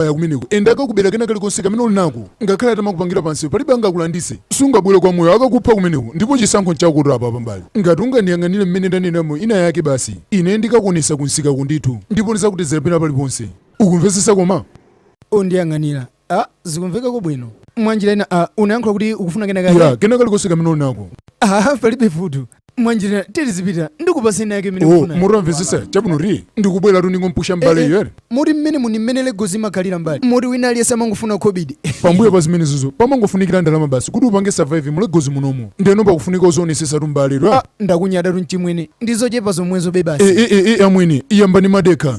kaya kumeneko ende akakubera kena kalikonse kamene uli nako ngakhale atamakupangira pansi palibe angakulandise sungabwere kwa moyo akakupha kumeneko ndipo chisankho nchako tola apa pambali ngati ungandiyang'anire mmene ndanena mo ina yake basi ine ndikakuonesa kunsikaku ndithu ndipo ndizakutezera pena paliponse ukumvesesa koma undiyang'anira a zikumvekako bwino mwanjira ina a unayankhula kuti ukufuna kena kake ya kena kalikonse kamene uli nako a palibe vuto mwanjira tizipita ndikupase ina yake imene oh, mukufuna. mutamvesesa chabwinotu ndikubweratu ndingompusha mbale Eh, eh, yere moti mmene muno mmene legozi imakhalira mbale moti wina aliyense amangofuna khobidi pambuyo pa zimenezizo pamangofunikira ndalama basi kuti upange survive mu Lagos munomo ndeno pakufunika uzionetsetsatu mbale ra Ah, ndakunyadatu mchimwene ndizochepa zomwezo bebasi e e e e amwene yambani madekha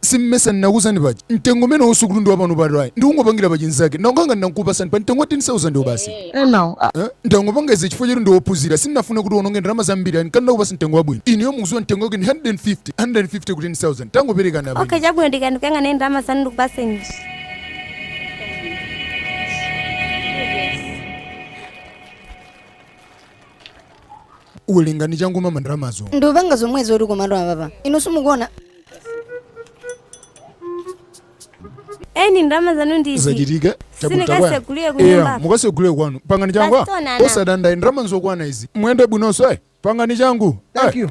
simmesa ndinakuuzani paja mtengo umene wasukulu ndi wapano pato ayi ndikungopangira pa chinzake ndakukanga ndinakupasani pa mtengo wa 10000 wo basi enawo Eh, ndangopanga izi chifukwa choti ndiwophunzira sindinafuna kuti uononge ndalama zambiri ani kana ndakupasa mtengo wabwino ineyo mukuziwa mtengo wake ndi 150 150 ku 10000 tangoperekani apa okay chabwino ndikandikanga naye ndalama zanu ndikupaseni muwerenge changu mama ndalamazo ndupanga zomwezo uli komatu apapa inu simukuona eni ndalama zanu ndizi zachitika si mukasegulire kunyumba mukasegulire kwanu pangani changu Pastor Nana. osadanda ayi ndalama nzokwana izi muyende bwinonso e pangani changu Thank you.